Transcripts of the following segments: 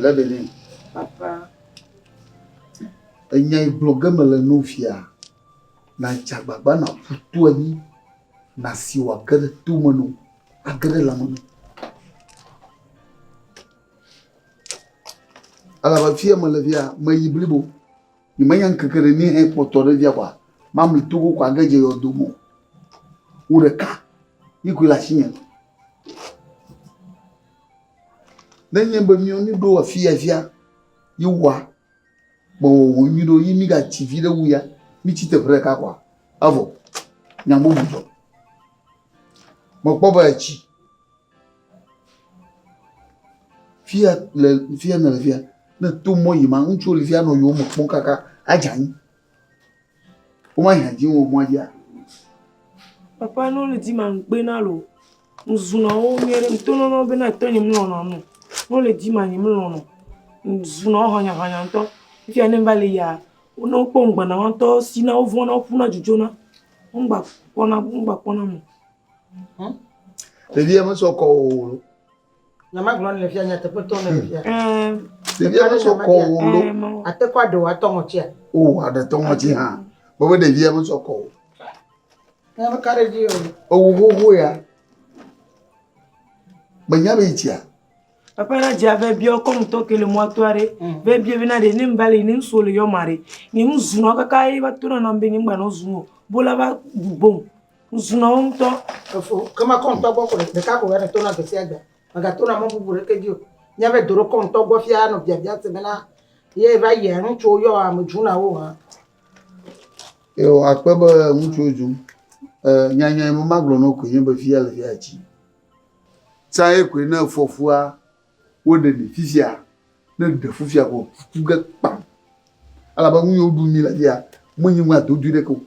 Lebele. Papa. Enya igblɔ ge me le no fia. Na dza gbagba na ƒutu anyi. Na si wa ge ɖe to me no. Age ɖe lame no. Elabe afi ya mele fia, meyi blibo. Nyemenya ŋkeke ɖe ni hekpɔtɔ ɖe fia kɔa, mamli to go kɔ age dze yɔdo me o. Wò ɖeka yi koe le asinye. Ne enye be miwo nu ɖo afi ya fia yi woa, be wòwɔ nyui ɖo yi migatsi vi ɖe wu ya, mitsi teƒe ɖeka kɔa, evɔ. Nya bubu dzɔ. Mekpɔ be etsi. Fia le fia nɔ le fia ne to mɔ yi ma ŋutsu le fia nɔ yewo me kpɔm kaka adze anyi. Woma dze anyi wo mɔa dzia. Papa no le di ma ŋgbe na lo. Ŋzuna wo nyuie ɖe ŋto nɔnɔ be na tɔnye mlɔnɔ nu. No le di ma nye mlɔnɔ. Ŋzuna wo hɔnya hɔnya ŋtɔ. Fia ne va le ya wo no kpɔ ŋgba na ŋtɔ si na wo vɔna wo ƒuna dzudzɔ na. Ŋgba kpɔna ŋgba kpɔna mo. Hmm? Ɖevia mesɔ kɔ o. Nyamagblɔ le fia nya teƒetɔ le fia. Ɖevia mesɔ kɔ o lo. Ate kɔ aɖewo atɔ ŋɔtia. O aɖe tɔ ŋɔti hã. Bɔbɔ ɖevia mesɔ kɔ o. Nya me kare dzi o. Ewu xoxo ya. Menya be itia. Papa na dzi ave biɔ kɔ mutɔ ke le mɔto aɖe. Ve biɔ bena ɖe ne mbali ne ŋso le yɔ ma ɖe. Ne ŋu zunɔ kaka ye va to na na be ne ŋgbanɔ zunɔ. Bola va gbom. Zunɔ wo ŋutɔ. Efo, ke mekɔ ŋutɔ gbɔ ko ɖeka ko ne tona gbe sia gbe. Megatona mɔ bubu ɖeke dzi o. Nya be do ɖo kɔ ŋutɔ gbɔ fia nɔ biabia se bena ye va yia ŋutsuwo yɔ ame dzuna wo hã. Yo akpe be ŋutsuwo dzum. E nyanya me magblɔ no koe nye be fia le fia tsi. Tsaye koe ne efɔfua Woɖe mi fifia, ne ɖe fifia ko ku ge kpam. Elabe nu yiwo ɖum mi le fia, menye nu adodui ɖeke o.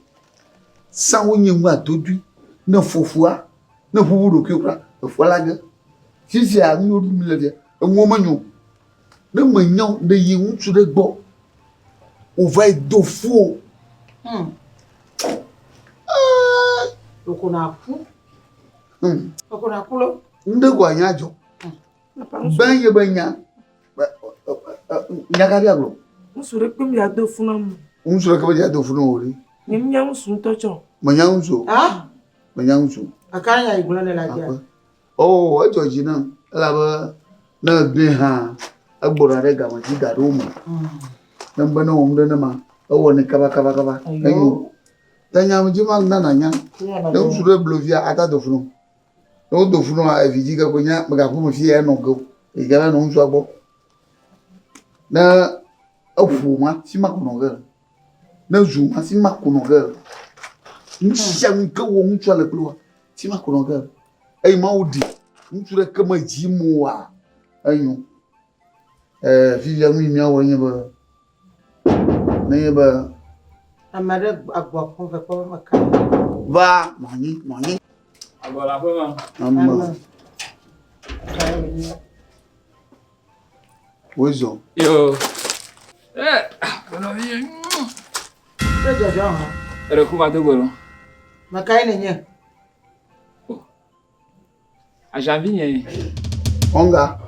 Sãwo nye nu adodui ne fofua, ne ƒuƒu ɖokuiwo kura, efua la ge. Fifia nu yiwo ɖum mi le fia, enuwo menyo o. Ne mènyao, ɖe yi ŋutsu ɖe gbɔ wòva yi do fu o. Hmm. Ɖeko nàku. Hmm. Ɖeko nàku lɔ. Nu ɖe ko anya dzɔ. Gbɛ ye be nya. Nya ka bia gblɔ? Ŋutsu ɖe kpem ya do funu amu. Ŋutsu ɖe kpem ya do funu o ri. Nye nya ŋutsu ŋutɔ tsɔ. Me nya ŋutsu. Ha? Me nya ŋutsu. Aka nya yi gblɔ ne la dia. Oh, edzɔ dzi na. Ela be ne egbe ha egbona ɖe game dzi da ɖo me. Hmm. Ne be ne wɔm ɖe ne ma ewɔ ne kaba kaba kaba. Enyo. Ta nya me dzi ma nana nya. Ne ŋutsu ɖe blo via ata do funu. Ne wodo ŋu nɔ evidzĩ ke kpoe nye megakpɔ ame si ye anɔ ge o. Eyi ke va nɔ ŋutsua gbɔ. Ne eŋu ma fi ma ko nɔ ge. Ne zu ma fi ma ko nɔ ge. Nu sia nu yi ke wɔm ŋutsua le kple woa fi ma ko nɔ ge. Eye Mawu ɖi ŋutsu ɖe ke me dzi mɔ woa enyo. ɛɛ fifia nu yi míawɔ enye be, nenye be. Ame aɖe agbɔ akpɔ ve kpɔ be meka nu. Va nɔ anyi, nɔ anyi. Agbɔ le aƒe me. Amen. Amen. Wisdom. Yo. Eh, aƒenɔ mi. Ke dzɔdzɔ hã. Eɖe ku va do gbe lɔ. Meka ye nenye. Aʒan vi nyee. Ɔnga.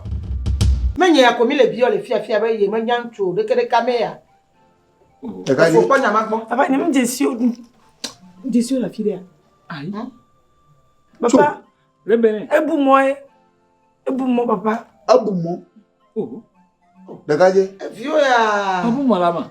Menye ya ko mi le biɔ le fiafia be ye me nya ŋutsu o ɖeke ɖeka me ya. Ɖeka dzi. Efo kpɔ nya ma gbɔ. Papa nye me dze si o nu. Dze si o le afi ɖea. Ayi. Papa. Rebele. Ebu mɔ ye. Ebu mɔ papa. Ebu mɔ. Oh. Ɖeka dze. Eviwo ya. Ebu mɔ la ma.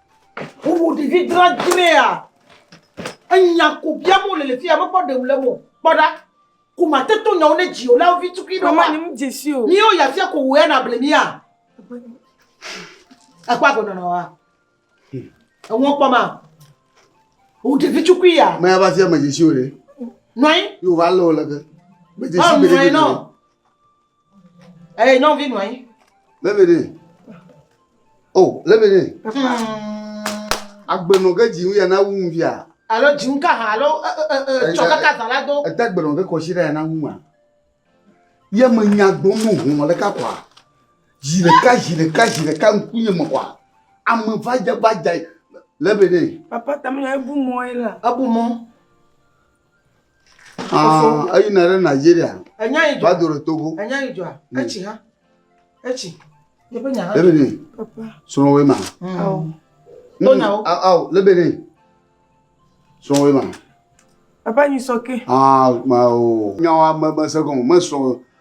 Wowɔ ɖevi dradzraea, enya ko biam wole le fi ya, mekpɔ ɖeŋu le mo. Kpɔ ɖa, ko mate to nyawo ne dziwò la vi tukui ɖo. Mama, nye mu dze si o. Míwo ya fia ko wò ya na ble mía. Ekpɔ agɔnɔ na wa. Eŋɔ kpɔ ma. Wò ɖevi tukui ya. Mɛ ava fia me dze si o ɖe. Nɔi. Yóò va lé wò leke. Me dze si gbeɖegbeɖe. Eye eh, nyɔnuvi nɔ anyi. Lebede. O, oh, lebede. Agbenɔ ke dzi ya na wu ŋuvia. Alo dzi ŋu ka hã alo tsɔ kaka zã la do. Ete agbenɔ ke kɔsi ɖe ya na wu ma. Ye me nya gbɔ mu hɔn le ka kwa. Zi ɖeka zi ɖeka zi ɖeka ŋkunye me kwa. Ame vadza vadza lebede. Papa tamina ebu mɔ ye la. Ebu mɔ. Aa, eyina ɖe Nigeria. Enya yi dzɔ. Va do ɖe Togo. Enya yi dzɔa. Hmm. Etsi ha. Etsi. Yeƒe nya ha. Lebene. Papa. Srɔ̃wɔe ma. Hmm. Awo. Dona wo. Awo, lebene. Srɔ̃wɔe ma. Papa nyi sɔke. Aa, ma o. Nyawa me me se gɔme, me srɔ̃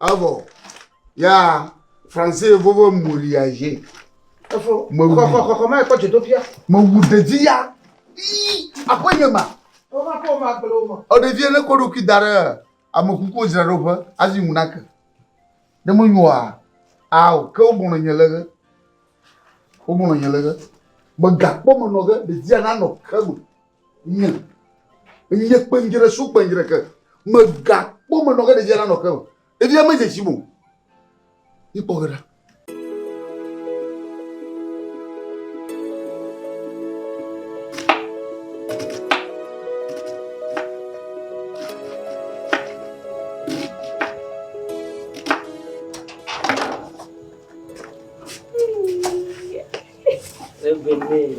Evɔ ya français vovo molia je. Efo. Me wu. Kɔkɔ kɔkɔ ma ekɔ dzodoƒia. Me wu ɖevi ya. Ii aƒe nye ma. Wova kɔ ma gblẽ wo ma. Eɖevi ne kɔ ɖokui da ɖe ame kukuwo dzraɖoƒe azi ŋu nake. Ne menyoa ao ke wogblɔ nye le ge. Wogblɔ nye le ge. Megakpɔ menɔ ge ɖevia nanɔ ke me. Nye, nye kpenjre su kpenjre ke. Megakpɔ menɔ ke ɖevia nanɔ ke o. Ɖevia medze tsi mo. Ikpɔ ge ɖa. Evené.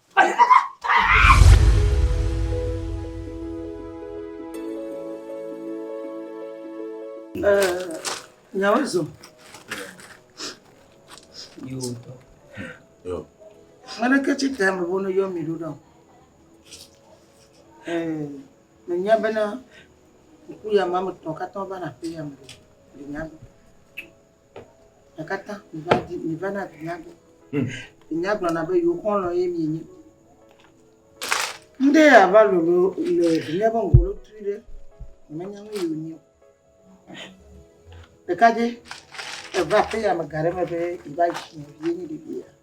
Nyawozo. Yiwo tɔ. Yo. Ŋane ke tsi te ame bonu yɔ mi ɖo ɖa. Ɛɛ, me nya bena ŋku ya ma me tɔ katã va na pe ya me. Me nya be. Ekatã miva di miva na vinya gbɔ. Hmm. Vinya gblɔna be yewo xɔlɔ ye mienye. Ŋɖe ava lolo le vinya be ŋgɔ lo tui ɖe menya nu yewo nyo. Ɖekadze eva aƒe ya me ga ɖe me be yeva yi si vie nye ɖevia.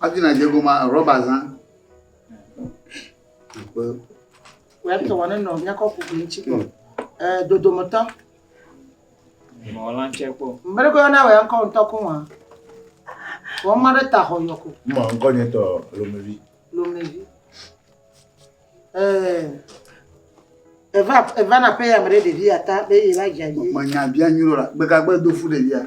Adina dze goma rɔba zã. Akpe. Wòe tɔ wɔne nɔ nyakɔ kuku ŋuti kpɔ. Ee, dodometɔ. Mɔla tse kpɔ. Mmereko yɔna wòe ŋkɔ ŋutɔ ko wɔn. Wɔn ma ɖe ta xɔ yɔ ko. Mɔ ŋkɔ nye tɔ lomevi. Lomevi. Ee. Eva eva na pe ya me ɖe ɖevi ata be ye va dza yi. Menya bia nyuɖo la. Gbegagbe do fu ɖevia.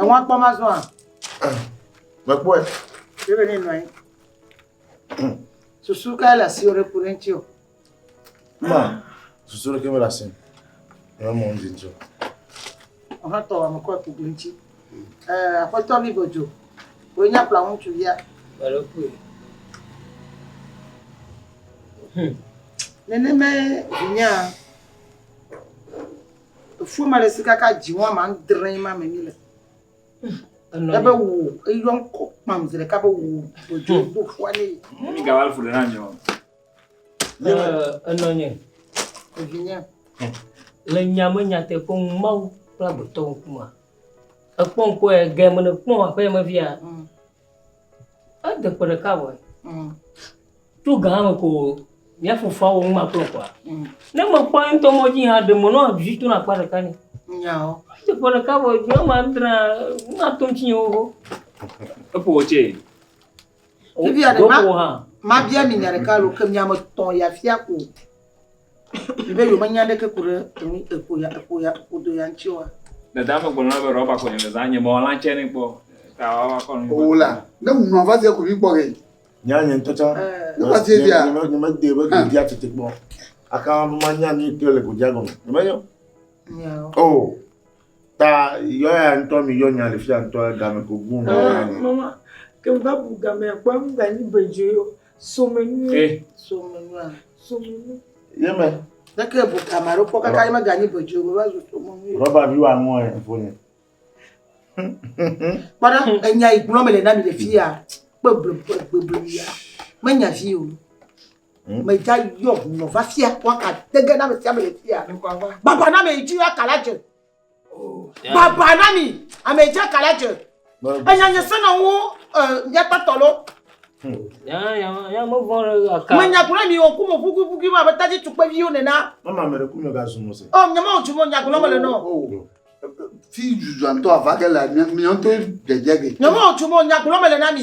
Ẹ̀wọ̀n akpɔ má zɔa? Mekpɔe. Yóò bɛ ní nɔ anyi. Susu kae le asiwò ɖe ku ɖe ŋuti o? Ma, susu ɖeke mele asi me. Eme mɔ ŋdi ŋuti o. Ọ̀hán tɔ ame kɔ ku ɖe ŋuti. Aƒetɔ mi godzo. Wòe nye akpla ŋutsu via. Alo kue. Nenemae vinyaa. Efue ma ɖe si kaka dziŋɔ ame adre ma me mi le. Ebe wo eyɔ ŋkɔ kpam zi ɖeka be wo dodzo hmm. do fua ne. Mi ga wal fule na mi o. Enɔ nye. Evinye. Le nyame nyateƒe ŋu Mawu kple agbetɔ ŋkuma. Ekpɔ ŋkɔ ye ge mene kpɔ aƒe me via. Hmm. Ede ƒe ɖeka vɔe. Mm. Tso gã me ko mía fofoa wɔ ŋuma kplɔ kɔa. Mm. Ne mekpɔ ŋutɔ mɔ dzi hã ɖe mɔ nɔ vi to na akpa ɖeka ne. Nyawo. Ede ƒe ɖeka vɔe do ma dra na to ŋutsi wo ho. Eƒo wo tse. Bibia ɖe ma. Ma bia mi nya ɖeka lo ke mia me tɔn ya fia ko. Ɖe yewo menya ɖeke ku ɖe enu eƒo ya eƒo ya eƒo do ya ŋuti oa? Dadaa megblɔ na be rɔba koe nèle zãm, nye mewɔ lãtse nɛ kpɔ o. Ta woava kɔ nu. Oo la, ne ŋu nɔa va zie ku ɖi kpɔ ge. Nya nye ŋutɔ tsã. Ne va zie dzia. Nye medee be godia tete kpɔ. Aka be manya nu yi ke le godia gɔme. Menyo. Nyawo. Oo. Ta yɔ ya ŋutɔ mi yɔ nya le fia ŋutɔ game ko gbun me ya ne. Mama, ke va bu game kpɔ ŋu da nyi bedzo yo. Somenu. Eh. Somenu a. Somenu. Ye me. Ne ke bu game aɖe kpɔ kaka ye me ganyi bedzo yo va zu somenu. Rɔba vi wa ŋu e fo ne. Kpɔɖa enya yi gblɔ me le na mi le fia. Kpe ble ble ble ya. Menya vi o. Medza yɔ ŋunɔ va fia waka dege na ame sia ame le fia. Baba na ame yi dzi aka la dze. Oh, Baba na mi ame yi dzi aka la dze. Enya nye se na wo miakpa tɔ lo. Menya gblɔ mi o kumo ƒukuiƒukui ma beta dzi tukpeviwo nena. Mama ame ɖe kunyɔ gazu mo se. Ɔ oh, nyama o dzi mo nya gblɔ mele nɔ. Oh, fi zuzuantɔ avage le miɔntɔ dzedzege. Nyama o dzi mo nya gblɔ mele na mi.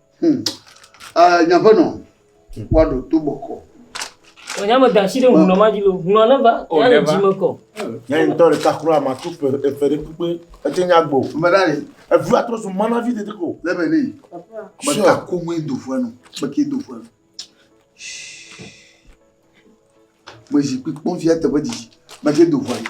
Hmm. Uh, nye aƒenɔ, woaɖo to bɔkɔ. Nya me da asi ɖe hunɔ ma dzi lo, hunɔ ne va, oh, ya le dzi me kɔ. Nya yi ŋutɔ ɖeka kura ma to fe efe ɖe kpekpe, ete nya gbo. Mɛɖa le. Evi atrɔ so mana vi tete ko. Lebe ne yi. Mɛta ko mu do fue nu, mɛke do fue nu. Mɛ zikpui kpɔn fia teƒe didi, mɛke do fue nu.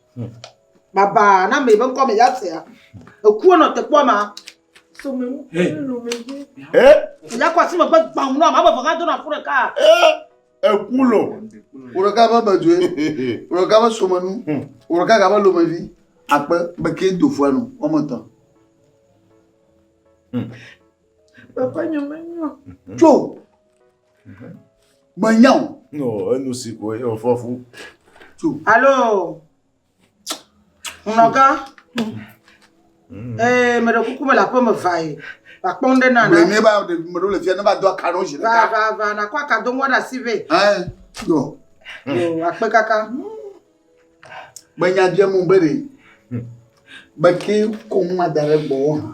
Baba na me be ŋkɔ me ya sea. Eku nɔ tekpɔ ma. So me nu lu me dzi. Eh? Ya kwa si me gbe gbam nɔ ma be vanga do na fure ka. Eh? Eku lo. Woro ka be be doe. Woro ka be so me nu. Hmm. Woro ka ka be lo me vi. Akpe be ke do fua nu. O me tɔ. Hmm. Papa nyɔ me nyɔ. Tso. Menya o. No, enu si ko ye wòfɔ fu. Alo, hunɔgã. Mm. Ee, meɖe kuku mele aƒe me va ye. Vakpɔ nu ɖe na na. Ne va ɖe meɖo le fia ne va do aka ɖo zi ɖeka. Va va va nakɔ aka do ŋua ɖe asi vɛ. Ɛ yɔ. Yɔ akpe kaka. Menya bia mu be ɖe. Beke kɔmu ma da ɖe gbɔ hã.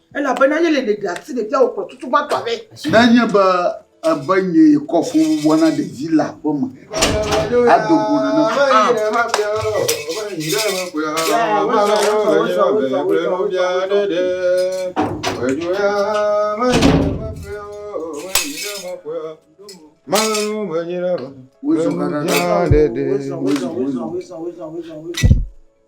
Elabena yele ɖeɖe asi ɖevia wòkplɔ tutu gbãtɔ aɖe. Ne enye be ebe nyee kɔ fububuwo na ɖevi le aƒe me, ado go nane faa.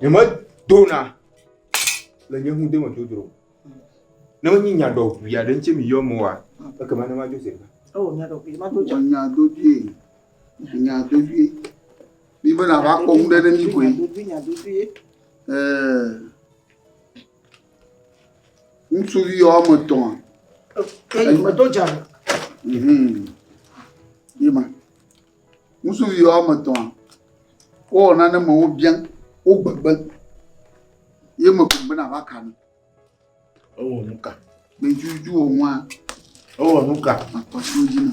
Nyeme dona le nye ŋu deme dodro. Ne menye nya dɔ ʋui aɖe ŋuti mi yɔ mo wa, ekema ne ma dzo se. Oh, nya dɔ ʋui, ma do dza. Nya do ʋui, nya do ʋui. Mi be na va kɔ ŋu ɖe ɖe mi koe. Nya do ʋui, nya do ʋui. Eh. Ŋutsuvi woame etɔ̃. Eyi me do dza ɖo. Hum ye ma. Ŋutsuvi woame etɔ̃ wowɔ nane me wo biã wo gbegbe ye me kpɔgbe na va ka nu. Ewɔ nu ka? Me dzi dzi wɔ nua. Ewɔ nu ka? Akpɔtɔ dzi na.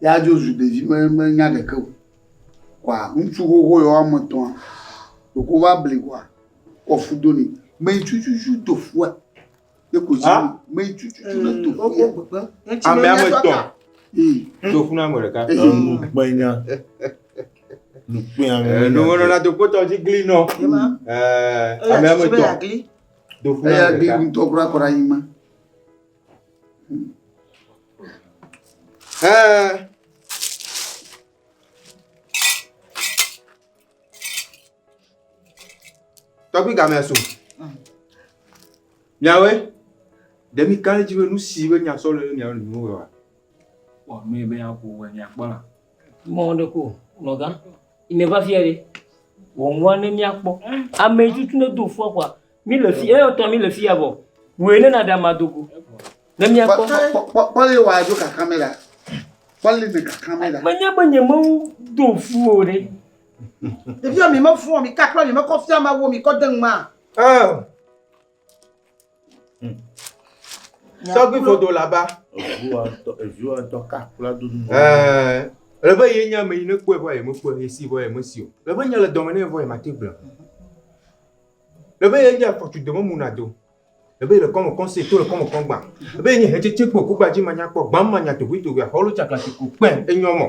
ya dzo zu ɖevi me me nya ɖeke o kɔa ŋutsu xoxo yɔ woame etɔ̃a ɖeko va bli kɔa kɔ fu do ni me yi tututu do fua ye ko dzi me yi tututu ne do fua ame ame etɔ̃ do fu na ame ɖeka enu gbenya nu kpea ŋu enu wɔna na do kpɔtɔ dzi gli nɔ ɛɛ ame ame etɔ̃ do fu na ame ɖeka eya gli ŋutɔ kura kɔra yi ma. Hã. Tɔgbi gamea so. Miawe, ɖe mi kan dzi be nu si be nya sɔ le mia nu nu wa. Wɔ nu be ya ko wɔ nya kpɔ la. Mɔ de ko nɔga. Ime va fia de. Wɔ nwa ne mia kpɔ. Ame tutu ne do fua kwa. Mi le fi, eyo tɔ mi le fi ya bɔ. Wòe ne na ɖe ama do go. Ne mi akpɔ. Kpɔ le wa do kaka me la. Kpɔ le ne kaka me la. Me nye be nye me do fu o ɖe. Ɖevi ya mi me fɔ mi kakla mi me kɔ fia ma wo mi kɔ de ŋma. Oh. Tɔgbi fodo la ba. Eviwa tɔ eviwa tɔ kakla do nu. Eh. Le be ye nya me yi ne kpɔe vɔ ye me kpɔe ye si vɔ ye me si o. Le be nya le dɔme ne vɔ ye ma te gblɔ. Ebe ye nye afɔtsu dememu nado. Ebe le kɔme kɔn se to le kɔme kɔn gba. Ebe ye nye hetsetse kpo kugba dzi manya kpɔ gbam manya tohwe tohwe ahɔlo tsakla si ku kpɛ enyɔ mɔ.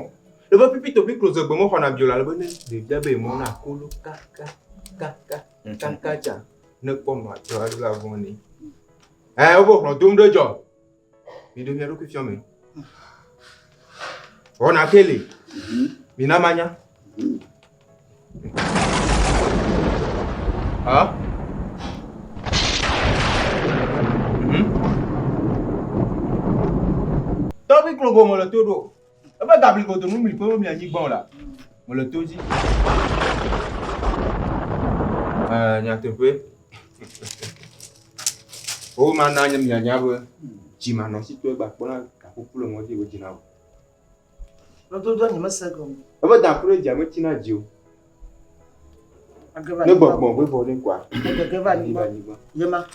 Ebe pipi topi klo ze gbe mɔ xɔna bio la lebe ne ɖevia be mɔ na kolo kaka kaka kaka tsa ne kpɔ nɔ atɔ la vɔn ne. Eh, obo hlɔ dom ɖe jɔ. Miɖo mia ɖokui fiɔ me. Wɔna ke li. Mhm. Mina manya. Mhm. Ah. Tɔbi klogo mele to ɖo. Ebe gabli godo nu mli kpeo mia nyi gbɔn la mele to dzi. Eh, nyateƒe. Wo ma na nye mia nya be dzi ma nɔ si to egba kpɔ na gakuku le mɔdzi wo dzina o. Lo do do nyeme se gɔm. Ebe da kure dzi ame tina dzi o. Ne gbɔgbɔ gbɔgbɔ ne kwa. Ne gbɔgbɔ va nyi gbɔn. Yema.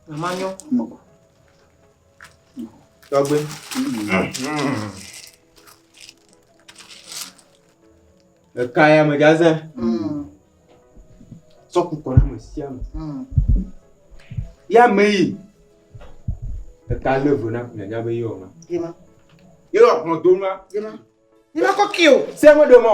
Mama nyɔ. Tɔgbe. Ɖeka ya me gaze. Sɔ kukɔ na me sia me. Ya me yi. Ɖeka le vo na kunya nya be yɔ ma. Yema. Yɔ kplɔ do ma. Yema. Yema kɔ kio. Se me do mɔ.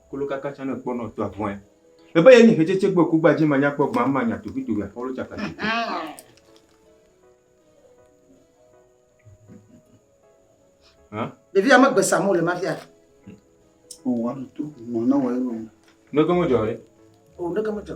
Kolo kaka tsã ne kpɔnɔ to avɔɛ. Ebe ye nyi hetsetse gbɔ kugba dzi manya kpɔ gba ma nya tovi tovi afɔlo tsaka tsoko. Hã? Ɖevia me gbe samo le mafia. O wa no to mo na wa yo. Ne ko mo jɔ re. O ne ko mo jɔ.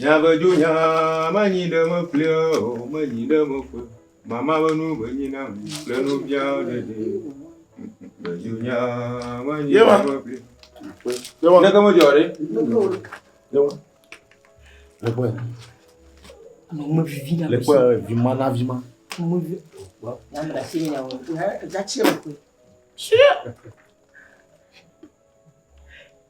Nyavedzo nya manyi ɖe me ƒlea o, menyi ɖe me ƒe. Mama be nu be nyi na mi kple nu bia ɖe ɖe. Vedzo nya manyi ɖe me ƒlea. Ne ke me dzɔ ɖe. Le kɔe. Ano me vivi na. Le kɔe vima na vima. Mo vi. Na na si nya wo. Ga tsi le kɔe. Tsi.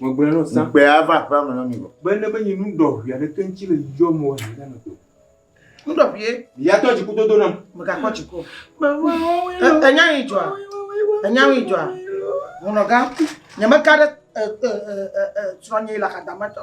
Megblɔe nɔ sa. Ŋukpe ava aƒea me na mi vɔ. Be ne menye nu ɖɔʋi aɖeke ŋuti le dzidzɔ me o le ame me to. Nu ɖɔʋie. Ya tɔ dziku dodo nam. Megakpɔ dziku. Enya yi dzɔa. Enya yi dzɔa. Ŋunɔga. Nyemeka ɖe srɔ̃nye le akadama tɔ.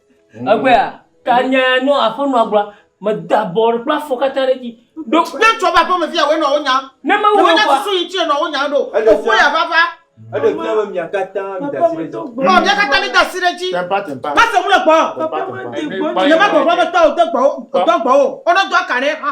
Egbea, ta nya ya nɔ aƒenɔa gbɔa, meda bɔ kple afɔ katã ɖe edzi. Ɖo ne trɔ va aƒeme via wòe nɔ wo nya. Ne Mawu wɔ kɔa. Ne susu yi ŋuti nɔ wo nya ɖo, fofo ya va va. Eɖe fia be mia katã mida asi ɖe edzi. Ɔ, mia katã mida asi ɖe edzi. Tempa, tempa. Mase ŋu le gbɔwò. Tempa, tempa. Ne magbɔgblɔ be tɔwò de gbɔwò, dɔ gbɔwò, wonɔ dɔa ka ɖe ha.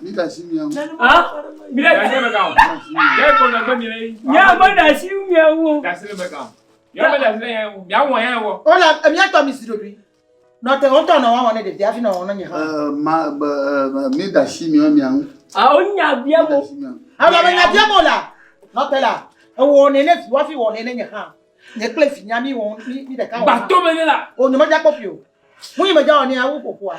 Mi da si miawo. Ah, mi da si mi kan. Ye ko na gbe mi le. Ya ma da si miawo. Da si le mi kan. Ya ma da si le ya wo. Ya wo ya wo. O la, mi ato mi si do bi. No te o to na wa wona de dia fi na wona nya. Eh, ma eh, mi da si miawo miawo. Ah, o nya bia mo. Ah, ba nya bia mo la. No te la. E wo ne ne fi wa fi wo ne ne nya ha. Ne kle fi nya mi wo mi de ka. Ba to me ne la. O ne ma ja ko fi o. Mu yi ma ja o ne a wo ko ko a.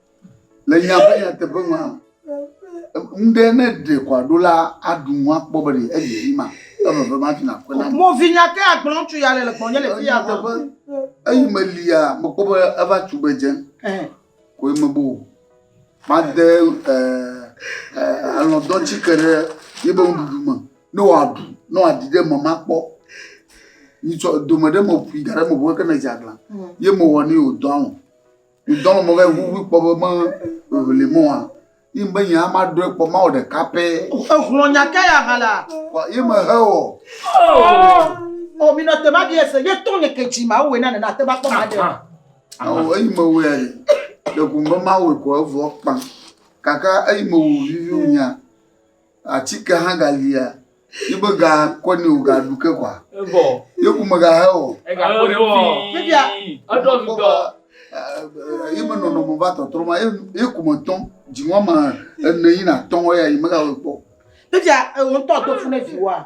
Le míaƒe nyateƒe mea, ŋɖe ne ɖe kɔ aɖo la aɖu ŋu akpɔ be ɖe edzi vi ma eme be mati na kpe na mi. Mo vinya ke agblɔ ŋutsu ya le le gbɔnye le fi ya. Nyateƒe eyi me lia mekpɔ be eva tu be dze ko ye mebo o. Made alɔdɔtsi ke ɖe ye be nuɖuɖu me ne wòaɖu ne wòaɖi ɖe eme makpɔ. Nyitsɔ dome ɖe me ƒui da ɖe eme ʋu eke ne dze aglã ye mewɔ nɛ wòdɔ alɔ̃. Ŋdɔ me mɔvɛ ʋuʋu kpɔ be me ʋeʋli mɔ hã. Yi ŋbe nye ama ɖɔe kpɔ Mawu ɖeka pɛ. Ehlɔ nya ka ya ha la? Wa yi me he wɔ. O mi nɔ te ma bi ese ye to nye ke ji Mawu we na ne na te ba kpɔ ma de. Awo eyi me we ayi. Le kumbe Mawu ko evɔ kpa. Kaka eyi me wu vivi nya. Atike hã galia. Yi be ga kɔ ni o ga ɖu ke kɔa. Ebɔ. Ye ku me ga he o. Ega kɔ ɖe fi. Fifia. Eɖɔ mi dɔ. Yi me nɔnɔ me va tɔtrɔ ma ye ku me tɔn dzi ŋɔ ma ene yi na tɔn ya yi me ga we kpɔ. Fifia e wo tɔ to fu ne fi wa.